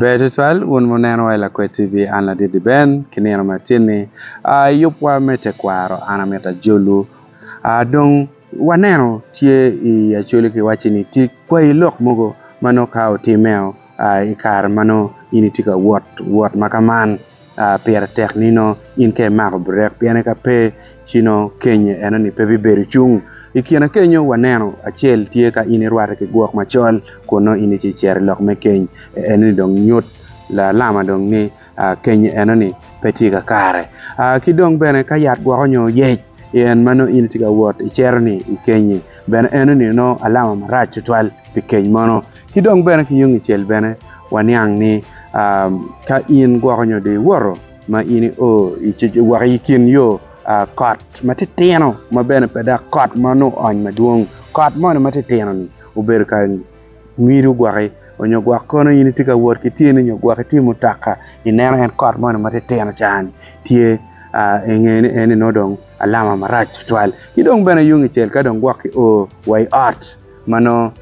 Ber twatwal wun muneno wa i Lakwed TV, an Ladidi Ben ki nino me acel-ni. I yubwa me tekwaro an amito ajolwu dong waneno tye i Acholi kiwacci ni tye kwayi lok mogo ma nongo ka otimmeo i kare ma nongo in itye ka wot wot ma ka man. pire tek nino in ka imako burek piene ka pe ci nongo keny enoni pe bibedo cung. I kine kenyo waneno acel tye ka in irwate ki gwok macol kun nongo in ci icito i lok me keny enoni dong nyut lalama dong ni keny enoni pe tye kakare. Ki dong bene ka yat gwoko nyo yec en ma nongo in itye ka wot icito ni ikenyi bene enoni nongo alama marac tutwal pi keny mono. Ki dong bene ki yung icel bene waniang ni ka in gwoko nyo dong iwoto ma in io woko i kin yo, kot ma titino ma bene pe dok kot ma onongo oony madwong, kot moni ma titino-ni obedo ka ngido gwoki onyo gwok kono in itye ka wot ki tyeni nyo gwok itye i mutoka ineno en kot moni ma titino cani tye inge ni eni nongo dong alama marac tutwal. Ki dong bene yung icel ka dong gwok kio wa i ot ma nongo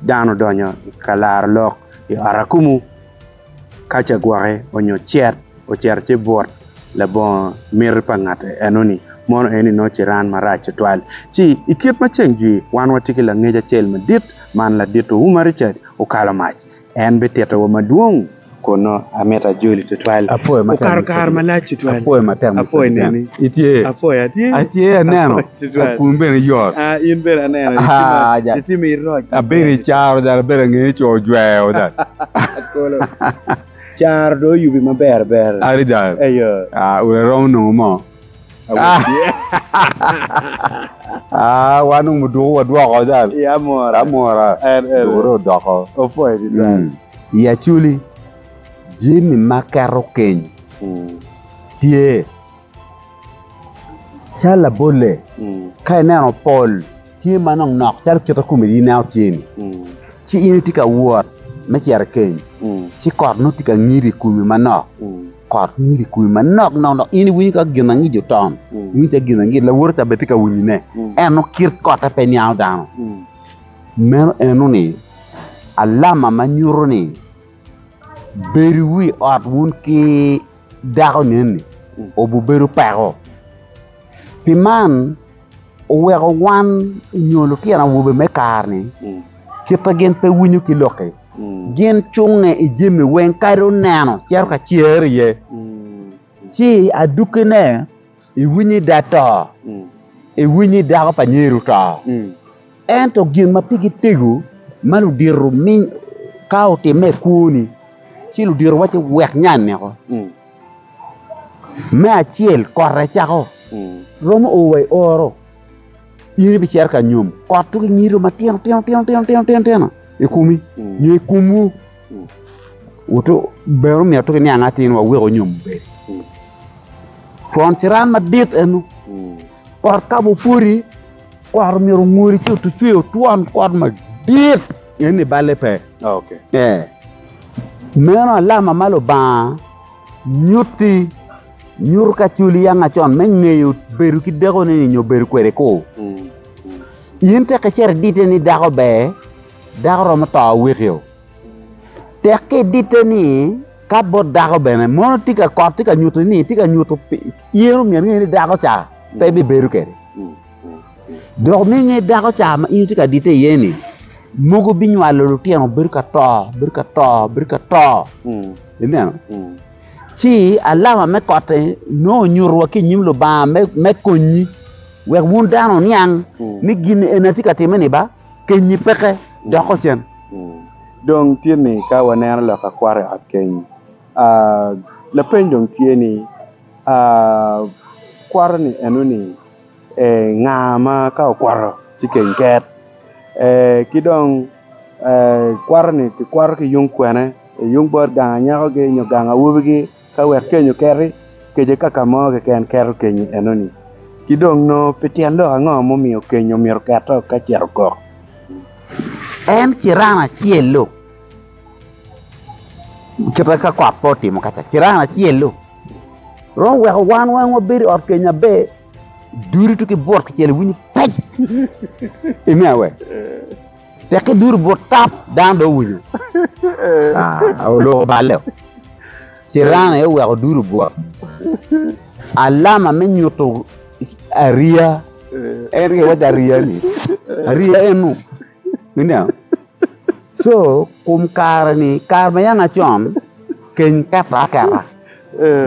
dano odonyo ka laro lok i ot akumu ka ce gwoki onyo cet ocito ci but labongo miti pa ngat enoni mono eni nongo ciran marac tutwal ci i kit ma ceng jwi wan watye ki langec acel madit man ladito Umar Richard okalo mac En bitito wa madwong kunnu. Amito ajoli tutwal. Okato kare malac tutwal. Apwoyi neni. Apwoyi atye. In bene aneno itye ma iroc. Abedo i caro jada abedo angeyo ni co ojweo jada. Caro dong oyubi maber ber. Adada. Ayo. Udi aromo nongo mo. wan onongo duko wadwoko cal amwora dukere odoko i acoli jami ma keto keny tye calo labolle ka ineno pol tye ma nok nok calo kite kome ineno tye ni ci in itye ka wot me cito i keny ci kot nongo tye ka ngido i komi manok. kot nyig i kumi manok nok dok in iwinyo calo ginangic oton, iwinyo calo ginangic lawoti ca bene tye ka winyone, ento kit kotte pe niango dano. Meno eno ni alama ma nyuto ni bedo iwi ot wun ki dako neni obibedo peko. Pi man oweko wan nyo lutino awobe me kare-ni kite gin pe winyo ki lok-ki. Gin cunge i jami weng kadi oneno cito ka cer iye, ci adukkine iwiny ni da to, iwiny ni dako pa nyer oto. Ento gin ma pigi tego ma ludito ka otimme i kwoni, ci ludito waco wek nya aneko. Me acel kot ecako romo oo wa i oro, in ibicito ka nyom kot dong inyiro matino tino i komi nyo i komwu, wot bene omyero tuk iniang atir wek onyom obed twon ciran madit eno. kot ka bene opwodi kot myero ongwodi ci otucwe otwon kot madit pien ni balle pe ee meno alama ma Lubanga nyutti nyuto ka culi yanga acon me ngeyo bedo ki dakoni ni nyo bedo kwede ku in tek icito idite ni dako ber dako romo to awekio. Tekke ditte ni ka bot dako bene mono tye ka kot tye ka nyuto ni tye ka nyuto in omyero ingene ni dako ca pe bibedo kede dok me nge dako ca ma in itye ka ditte iye ni mogo binywalo lutino bedo ka to bedo ka to bedo ka to ineno ci alama me kotte nongo onyuto wa ki inyim Lubanga me konyi wek wun dano oniang ni gin eni atye ka timme ni ba. kenyi peke doko cen. Dong tye ni ka waneno lok akwar i ot keny, lapeny dong tye ni kwaro-ni eno-ni nga ma ka okwaro ci keny ket? Ki dong kwaro-ni kikwaro ki yung kwene? Yung bot gang anyakogi nyo gang awobigi? Ka wek kenyo keti, kece kaka mo keken keto kenyi enoni. Ki dong nongo pi tyen lok ango mumiyo kenyo myero keto ka cito okok? En ciran acel-lu, kite ka kot pe otimo ka ca, ciran acel-lu romo weko wan weng wabed i ot kenyo aber, dudu ki bwot kicel iwinyo pec, ime awe? Tekke duto but tap, dano dong owinyo. Ah, oloko balle. Ciran aye oweko duto but. Alama me nyuto ariya, en ke waco ariya-ni, ariya enu. Ineo? So, kum kare-ni, kare ma yam acon, keny keto aketa.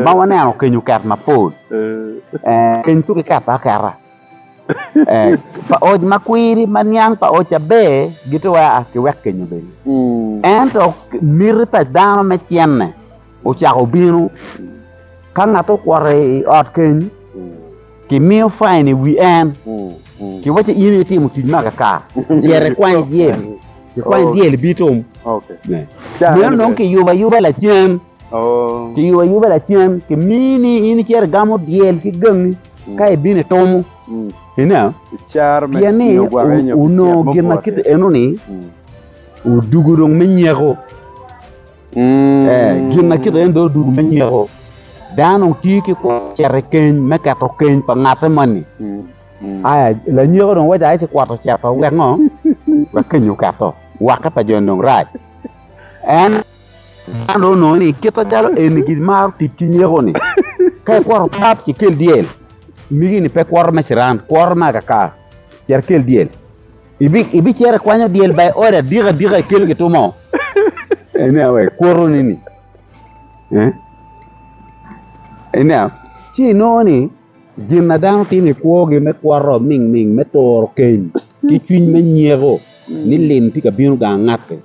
Ma waneno keny oket mapol. Eh, keny tuko iketo aketa. pa oc ma kwiri ma niang pa oc aber gitye wai aa ki wek kenyo bene. Ento miti pa dano me cenne ocako bino. Ka ngat okwoto i ot keny, kimiyo fain i wi en, kiwaco in aye itimo tic me akaka, cit ikwany dyel, ikwany dyel ibitum. Meno nongo kiyubo ayuba lacen. Kiyubo ayuba lacen, kimiyi ni in icito igamo dyel ki gangi ka ibino itumo. Ineo? Pien ni onongo gin ma kite enoni odugo dong me nyeko. Gin ma kite en dong odugo me nyeko. Dano dong tye ki kwo cito i keny me keto keny pa ngatte moni. Aya, lanyeko dong waco aye ci kwot ocito wek ngo? Wek keny oketo. Wakke pa joni dong rac. En Man dong onongo ni kit acalo eni gimaro tic ki nyeko-ni, ka ikwoto pap ci ikel dyel, migi-ni pe kwoto me ciran, kwoto me akaka, cito ikel dyel. Ibicito ikwanyo dyel ba i ode adika adika ikelo gitu mo. Enia wek kwotoni-ni. Enia, ci inongo ni Gin ma dano timo i kwogi me kwot ningning me turo keny ki cwiny me nyeko ni lim tye ka bino gang ngatti.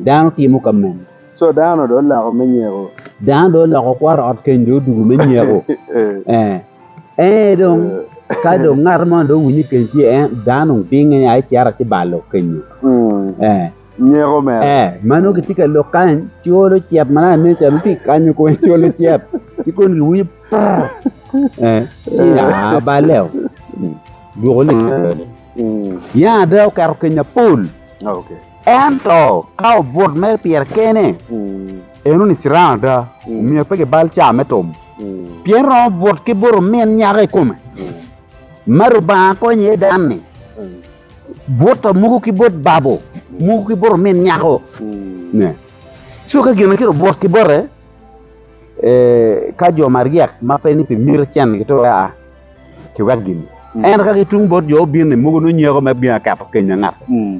Dano timo ka meno. Dano dong oloko kwot ot keny dong odugu me nyeko. Ee, dong ka dong ngat moni dong owinyo ni keny tye, dano dong binge nia ci cito ci balo kenyo. ma nongo gitye ka lok kany cwolo cit ma nongo aneno calo gitye ka kanyo kong cwolo cit ci kong giwinyo purr ci aa baleo dwogo ni Yen ada oketo kenya pol ento ka obut mere pire kene en oni ciran ada omyero pe kibal caa me tum pien romo but ki buto min nyako i kome ma Lubanga konyo iye dan-ni. bot pa muku ki bot babo, muku ki bot omin nyako. Ne. So ka gin ki obot ki bote, eh, ka jo maryek ma pe ni pi miti cen gitu aa, ki wek gini. Ento ka ki tung bot jo obin-ni, muku nongo nyeko ma bino aketo keny na ngat.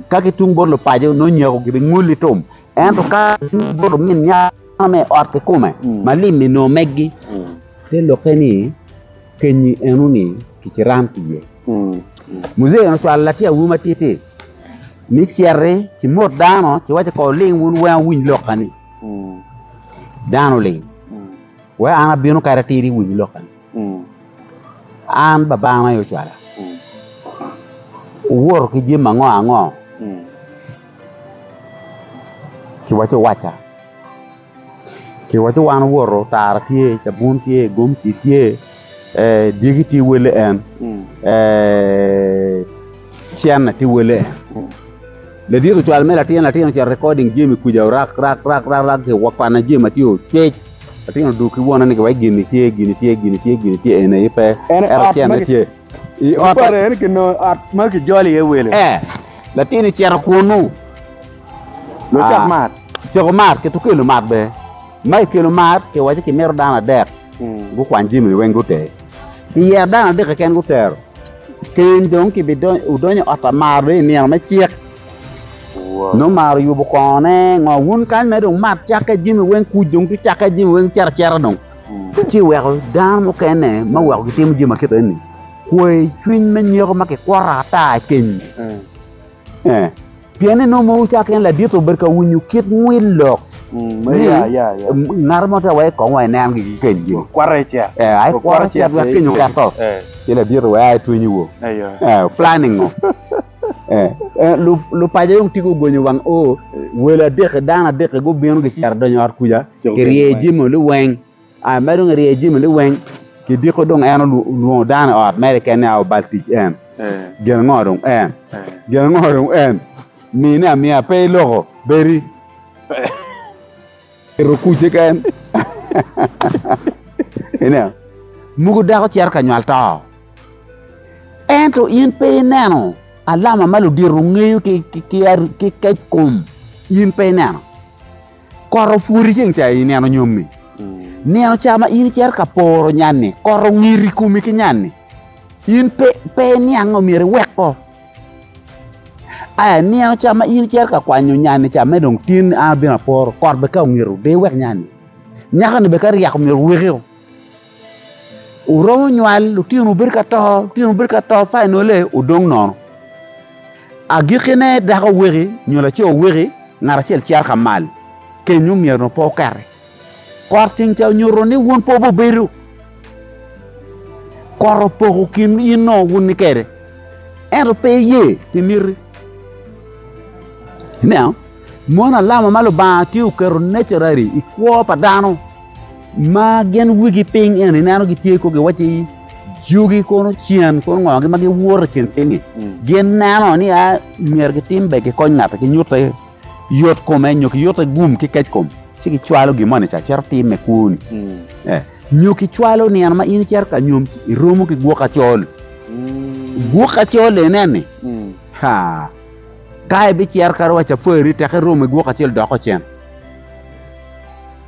Ka ki tung bot lupaco, nongo nyeko gibi ngul i tum. Ento ka ki tung bot omin nyako ma i ot kikume, ma lim-mi nongo meggi. Te lokke ni, Kenyi eno ni kikiram ki ye. Muzee eno cwalo latin awobi matiti ni citi ki mot dano ci wacce kor ling wun weng awiny lokka ni dano oling wek an abino kadi atir iwiny lokka ni an babano aye ocwala wuwoto ki jami ango ango ci wacce owacca Kiwaco wan owoto, otara tye, cabun tye, gomci tye, dyegi tye wele en, cene tye wele en. Ladit ocwalo me latin, latin ocito recording jami kwija rak rak rak rak kikwane jami ma tye ocwec. Latin odwogo ki wonone ni giwaco gini tye, gini tye, gini tye, gini tye, eni aye pe ento cene tye. I ot ma kijolo iye wele. Ee, latin ocito kunnu. Lucok mar coko mar ki tukelo mar bene. Ma i kelo mar kiwaco ki mito dano adek gukwany jami-ni weng gute. Kiyero dano adek keken gutero. Keny dong kibidonyo wudonyo i ot pa mar dong i nino me cik. Nongo mar oyubo kongone ngo wun kany mere dong mar cakke jami weng kuc dong gucakke jami weng cito acita dong. Ci weko dano mukene ma weko gitimo jami ma kit eni kwer cwiny me nyeko ma kikwoto ata i keny. Pien en onongo mowu cake en ladit obedo ka winyo kit ngwil lok. Ni ya ya ya. Ngat mo te wai kong wai nen gi keny gi. Kwara icet. Eh, ai kwara icet wek keny oketo. Eh. Ci ladit wai ai twinyi wo. Ayo. Eh, planning ngo. Eh, eh lu lu paja yung tigo gonyo wang o welo adek dano adek gubino gicero donyo ot kuja. Kirye jimo luweng. Aa mere dong irye jami ni weng kidiko dong en olwongo dano i ot mere kene aa obal tic en gin ango dong en gin ango dong en mine amiya pe iloko bedi ito kuc keken ineno mogo dako cito ka nywal to ento in pe ineno alama ma ludito ngeyo ki kec kom in pe ineno. Kot opwoti ceng ca i nino nyomi, nino ca ma in icito ka poro nyanni, kot ongir i komi ki nyanni, in pe pe iniang omyero iwek ko. Aya nino ca ma in icito ka kwanyo nyanni ca me dong tin an abino aporo, kot be ka ongiro de iwek nyanni. Nyakoni be ka ryeko omyero wekio. Wuromo nywal lutinowu bedo ka to, lutinowu bedo ka to, fainole wudong nono. Agikkine dako weki nyo laco weki ngat acel cito ka mal, kenyo myero nongo pe okati. Kot ceng ca onyuto ni wun pe wubedo, kot opoko kin in o wun kede, ento pe iye pi miti. Ineno? Mono alama ma Lubanga tye oketo naturally i kwo pa dano. ma gin wigi piny eni ineno gitye kong giwacci jogi kono cen kono ngogi ma giwoto i kin piny-nyi gin neno ni a myero gitim be gikony ngati kinyutte yot kome nyo kiyutte gum ki kec kom ci gicwalo gin moni ca cito timme kwoni eh, nyo kicwalo nino ma in icito ka nyom ci iromo ki gwok acol gwok acol eneni ha ka ibicito kadi wa cafari tek iromo i gwok acol doko cen